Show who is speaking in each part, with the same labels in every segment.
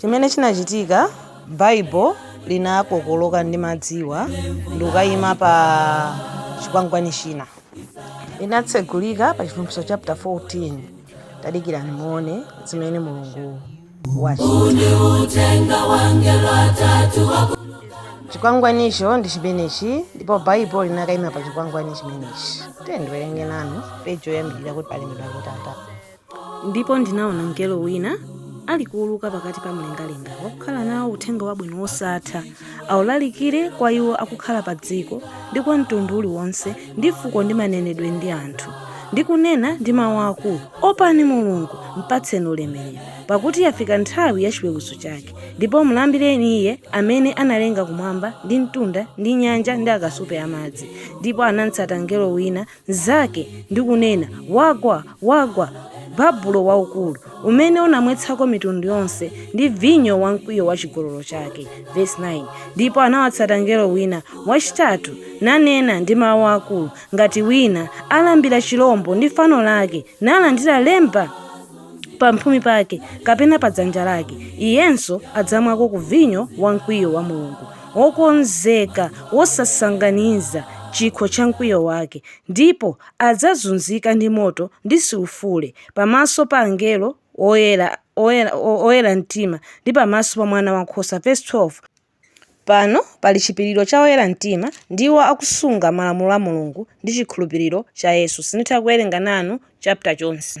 Speaker 1: Chimene chinachitika, Baibo linakokoloka ndi madziwa ndi kukaima pa chikwangwani china. Linatsegulika pa Chivumbulutso chapter 14. Tadikirani muone zimene Mulungu wachita. Chikwangwanicho ndi chimenechi ndipo Baibo linakaima pa chikwangwani chimenechi. Tiyeni tiwerenge nanu peji yoyambirira kuti palembedwa kuti atani. Ndipo ndinaona mngelo wina alikuuluka pakati pa mlengalenga, wakukhala nawo uthenga wabwino wosatha, aulalikire kwa iwo akukhala pa dziko, ndi kwa mtundu uliwonse, ndi fuko ndi manenedwe ndi anthu, ndi kunena ndi mawu akulu, Opani Mulungu, mpatseni ulemerero, pakuti yafika nthawi ya chiweruzo chake, ndipo mlambireni Iye amene analenga kumwamba, ndi mtunda, ndi nyanja, ndi akasupe a madzi. Ndipo anamtsata mngelo wina, mnzake, ndi kunena, Wagwa, wagwa, Babulo waukulu, umene unamwetsako mitundu yonse ndi vinyo wa mkwiyo wa chigololo chake. Vesi 9, Ndipo anawatsata mngelo wina, wachitatu, nanena ndi mawu akulu, Ngati wina alambira chirombo ndi fano lake, nalandira lemba. pamphumi pake kapena pa dzanja lake, iyenso adzamwako ku vinyo wa mkwiyo wa Mulungu, wokonzeka wosasanganiza chikho cha mkwiyo wake, ndipo adzazunzika ndi moto ndi sulfure pamaso pa angelo oyera mtima ndi pamaso pa mwana wa nkhosa. Vesi 12. Pano pali chipiliro cha oyera mtima ndi iwo akusunga malamulo a Mulungu ndi chikhulupiliro cha Yesu. Sinditha kuwerenga nanu chapter chonse.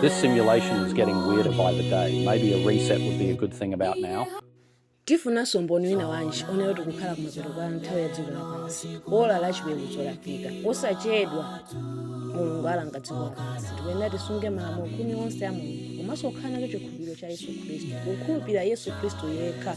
Speaker 2: This simulation is getting weirder by the day. Maybe a reset would be a good thing about now. tifunanso
Speaker 1: umboni wina wanji onena kuti tikukhala kumapeto kwa nthawi ya dziko lapansi ola la chiweruzo lafika osachedwa mulungu alanga dziko lapansi tikuyenera tisunge malamulo khumi onse a mulungu komanso kukhala nacho chikhulupiriro cha yesu khristu kukhulupirira yesu khristu yekha